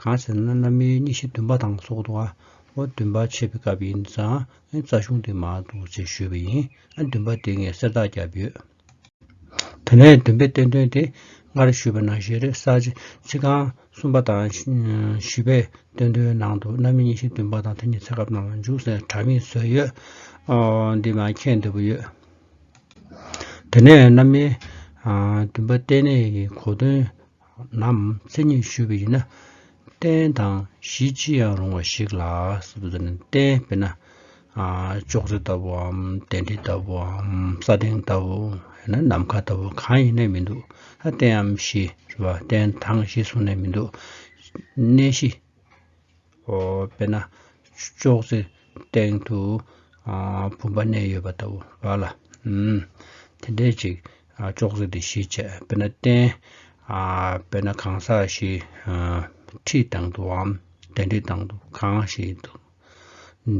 གང་ཟེར་ན་གནམ་ཡོལ་གཉིས་ཤིང་བདུན་པ་དང་སོགས་འདུག་ཨ། འོ་བདུན་པ་ཕྱེས་པའི་སྐབས་ཡིན་ཙང་ཨེ་རྩ་གཞུང་དེ་མ་འདུག་ཅེས་ཞུས་པ་ཡིན། ཨ་བདུན་པ་དེ་ངས་གསེར་རྟགས་བརྒྱབ་ཡོད། དེ་ནས་བདུན་པའི་བསྟན་དོན་དེ་སྔར་ཞུས་པ་ན་བཞེས་རེས་གསར་བརྗེ་ཕྱི་གང་གསུམ་པ་དང་བཞི་པའི་བསྟན་དོན་ནང་དུ་གནམ་ཡོལ་གཉིས་ཤིང་བདུན་པ་དང་དེ་གཉིས་ཚེ་སྐབས་ནང་ལ་འཇུག་ཟེར་དྲ་མིག་བཟོས་ཡོད། འདི་མ་མཁྱེན་འདི་པོ་ཡོད། དེ་ནས་གནམ་ཡོལ་བདུན་པ་བསྟན་གནས་ཀྱི་གོ་དོན་ནམ་མཚན་ཉིད་ཞུ་བའི་ཡུལ་ན། རྟེན་དང་གཞི་ཅི་ཡང་རུང་བ་ཞིག་ལ། རྟེན་དཔེར་ན། ཅོག་ཙེ་ལྟ་བུའམ་གདན་ཁྲི་ལྟ་བུའམ་ས་སྟེང་ལྟ་བུ། ཡང་ན་ནམ་མཁའ་ལྟ་བུ་གང་ཡིན་ནས་མི་འདུག་ད་རྟེན་འམ་གཞི་རེད་པ། རྟེན་དང་གཞི་བཟུང་ནས་མི་འདུག་གནས་གཞི། དཔེར་ན། ཅོག་ཙེའི་སྟེང་དུ་བུམ་པ་གནས་ཡོད་པ་ལྟ་བུ་བ་ལ། དེ་འདྲའི་ཅིག་ཅོག་ཙེ་འདི་ཞེས་བྱ། དཔེར་ན་རྟེན། དཔེར་ན་གང་ཟག་ཞེས། ཁྲིད་དང་དུའམ་གདན་ཁྲིད་དང་དུ་གང་ཞིག་ཏུ།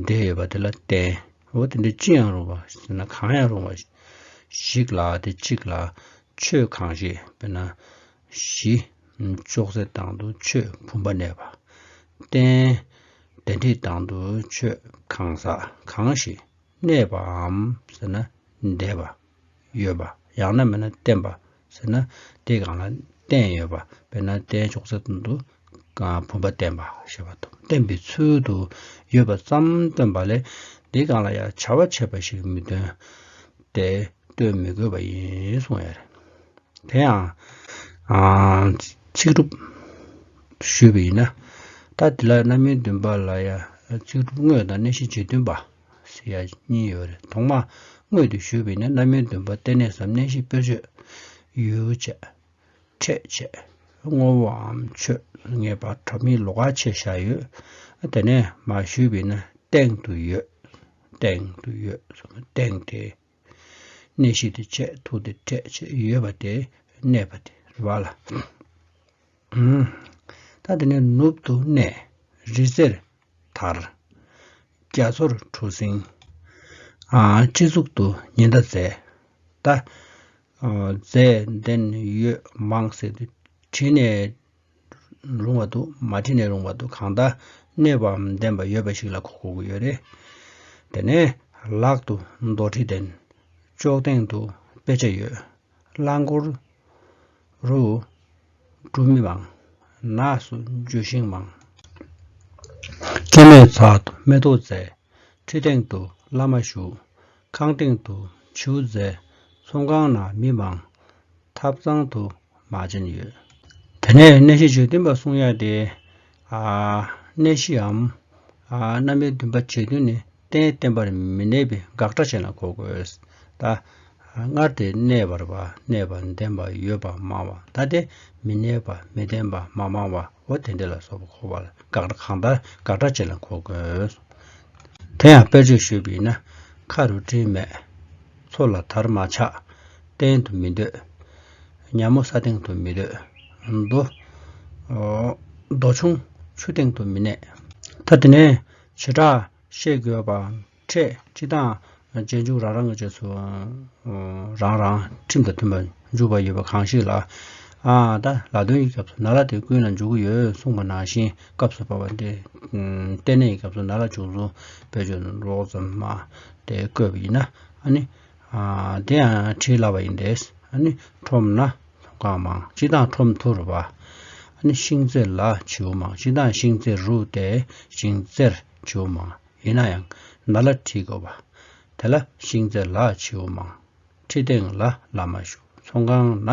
འདྲེས་ཡོད་པ་དེ་ལ་རྟེན། འོ་དེ་འདྲའི་ཅི་ཡང་རུང་བ་ཟེར་ན་གང་ཡང་རུང་བ། ཞིག་ལ་དེ་གཅིག་ལ་ཆོས་གང་ཞིག་དཔེར་ན། བཞི། ཅོག་ཙེ་དང་དུ་ཆོས་བུམ་པ་གནས་པ། རྟེན་འབྲེལ་འཁྲིད་དང་དུ་ཆོས་གང་ཟག་གང་ཞིག་གནས་པའམ་ཟེར་ན་འདས་པ། ཡོད་པ་ཡང་ན་མེད་ན་བརྟེན་པ་ཟེར་ན་དེ་གང་ལ་བརྟེན་ཡོད་པ་དཔེར་ན་རྟེན་ཅོག་ཙེ་དང་དུ་གང་བུམ་པ་བསྟན་པ་ཞེས་པ་དང་བསྟན་པའི་ཚུལ་དུ་ཡོད་པ་ཙམ་སྟོན་པ་ལས་འདིས་གང་ལ་ཡང་བྱ་བ་བྱས་པ་ཞིག་མི་སྟོན་ཏེ་སྟོན་མི་དགོས་པ་ཡིན་གསུངས་ཡོད་རེད། དེ་ཡང། ཚིག་གྲུབ། ཞུས་པ་ཡིན་ན། ད་འདི་ལ་རྣམ་སྨིན་བདུན་པ་ལ་ཡང་ཚིག་གྲུབ་དངོས་དང་གནད་གཞི་རྗེས་མཐུན་པ། ཞེས་ཡང་གཉིས་ཡོད་རེད་ཐོག་མར་དངོས་དུ་ཞུས་པ་ཡིན་ན་རྣམ་སྨིན་བདུན་པ་བསྟན་གནས་སམ་གནད་གཞི་དཔེར་བརྗོད། ཡུལ་བྱས། ཁྲེས་བྱས་བསྔོ་བའམ་ཆོས་ངེས་པ་གྲོ་མི་ལོ་ག་ཕྱེད་བཞག་ཡོད། དེ་ནས་མ་ཞུས་པས་ན་སྟེང་དུ་ཡོད། སྟེང་དུ་ཡོད་ཟེར་ན་སྟེང་དེ། གནས་བཞི་དེ་བཅས་ཐུགས་དེ་ཁྲེས་བྱས་ཡོད་པ་དེ་གནས་པ་དེ་རེ་བ་ལ། ད་དེ་ནས་ནུབ་ཏུ་གནས་རི་རྩེར་དར། རྒྱ་མཚོར་གྲུ་གཟིངས། སྤྱི་གཙུག་ཏུ་ཉི་ཟླ་མཛེས། ད། རྫས་འདེན་ཡོད་མང་ཟེར་དུས་བྲིས་ནས་རུང་བ་འདུག་མ་བྲིས་ནས་རུང་བ་འདུག་གང་ལྟར་གནོད་པའམ་བདེན་པ་ཡོད་པ་ཞིག་ལ་གོ་དགོས་ཀྱི་ཡོད་རེད། དེ་ནས་ལག་ཏུ་མདོ་ཁྲི་འདེན། ཅོག་སྟེང་དུ་དཔེ་ཆ་ཡོད། རླངས་འཁོར་རུ་འགྲོ་མི་མང། ནགས་སུ་འགྱོད་ཤིང་མང། སྐྱེད་མོས་ཚལ་དུ་མེ་ཏོག་བཙལ། ཁྲི་སྟེང་དུ་བླ་མ་བཞུགས། ཁང་སྟེང་དུ་བྱིའུ་བཙའ། ཚོང་ཁང་ནང་མི་མང། ཐབ་ཚང་དུ་མ་བྱིན་ཡོད། དེ་ནས་གནས་གཞི་བརྗོད་འདུན་པ་གསུང་ཡག་སྟེ། གནས་གཞིའམ། གནའ་མིའི་འདུན་པ་བརྗོད་འདུན་ནི་གཏན་གཏན་པར་མི་གནས་པའི་དགག་སྒྲ་ཅན་ལ་གོ་དགོས། ད། སྔར་དེ་གནས་པར་བ་གནས་པར་འདེམས་པ་ཡོད་པ་མང་བ་ད་དེ་མི་གནས་པ་མི་འདེམས་པ་མ་མང་བའོ་དེ་འདི་ལ་སོགས་པ་གོ་བ་ལ་དགག་སྒྲ་གང་ལྟར་དགག་སྒྲ་ཅན་ལ་གོ་དགོས། དེ་ཡང་དཔེར་བརྗོད་ཞུས་པ་ཡིན་ན། མཁའ་རུ་སྤྲིན་མེད། མཚོ་ལ་དར་མ་ཆགས། གཏན་དུ་མི་འདོད། མཉམ་མོ་ས་སྟེང་དུ་མི་སྡོད། རྡོ། རྡོ་ཆུང། ཆུ་སྟེང་དུ་མི་གནས། ཐ་དེ་ནས་བྱེ་བྲག་བཤད་དགོས་པའང་འཕྲད་ཅི་དང། གཅེན་གཅུང་རང་རང་གི་ཆོས་སུ་རང་རང་ཁྲིམས་དང་མཐུན་པར་འཇུག་པ་ཡོད་པ་གང་ཞིག་ལ། ཨཱ། ད་ལ་དོན་གྱི་སྐབས་སུ་ན་ལ་དེ་ཀུན་ལ་འཇུག་གི་ཡོད་གསུངས་པ་ནང་བཞིན་སྐབས་སུ་བབ་པ་འདི་སྟེ་ནས་ཀྱི་སྐབས་སུ་ན་ལ་འཇུག་གསུངས་པའི་ཆོས་ནི་རོགས་ཙམ་མ་སྟེ་བཀོད་པ་ཡིན་ན་ནི། དེ་ཡང་བྲིས་སླ་བ་ཡིན་ཏེ། ཁྲོམ་ན་གངས་མང་ཅི་དང་ཁྲོམ་ཐུར་བ། ཤིང་རྩེ་ལ་བྱིའུ་མང་ཅི་དང་ཤིང་རྩེ་རུ་སྟེ་ཤིང་རྩེར་བྱིའུ་མང། ཡིན་ན་ཡང་ན་ལ་ཁྲིད་དགོས་པ། དེ་ལ་ཤིང་རྩེ་ལ་བྱིའུ་མང། ཁྲི་སྟེང་ལ་བླ་མ་བཞུགས་ཚོང་ཁང་ན་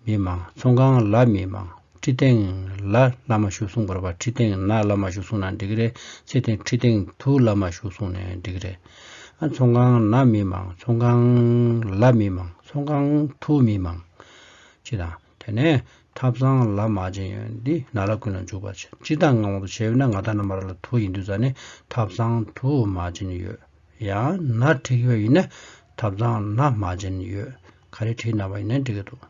མི་མང་ཚོང་ཁང་ལ་མི་མང་ཁྲི་སྟེང་ལ་བླ་མ་བཞུགས་གསུངས་པར་བ་ཁྲི་སྟེང་ན་བླ་མ་བཞུགས་གསུངས་ན་འགྲིག་གི་རེད་ཚེ་ཐིང་ཁྲི་སྟེང་དུ་བླ་མ་བཞུགས་གསུངས་ནས་འགྲིག་གི་རེད། ཚོང་ཁང་ན་མི་མང་ཚོང་ཁང་ལ་མི་མང་ཚོང་ཁང་དུ་མི་མང། ཅེས་དང། དེ་ནས་ཐབ་ཚང་ལ་མ་བྱིན་ཡོད་འདི་ན་ར་ཀུན་ལ་འཇུག་པར་བྱེད་ཅི་དང་ངང་དུ་བྱས་ཡོད་ན་ང་ད་ན་མ་ར་ལ་དུ་ཡིན་འདུག་ཙ་ནས་ཐབ་ཚང་དུ་མ་བྱིན་ཡོད་ཡང་ན་བྲིག་ཡོད་ཡིན་ན་ཐབ་ཚང་ན་མ་བྱིན་ཡོད་ག་རེ་བྲིག་ན་བ་ཡིན་ན་འགྲིག་གི་འདུག།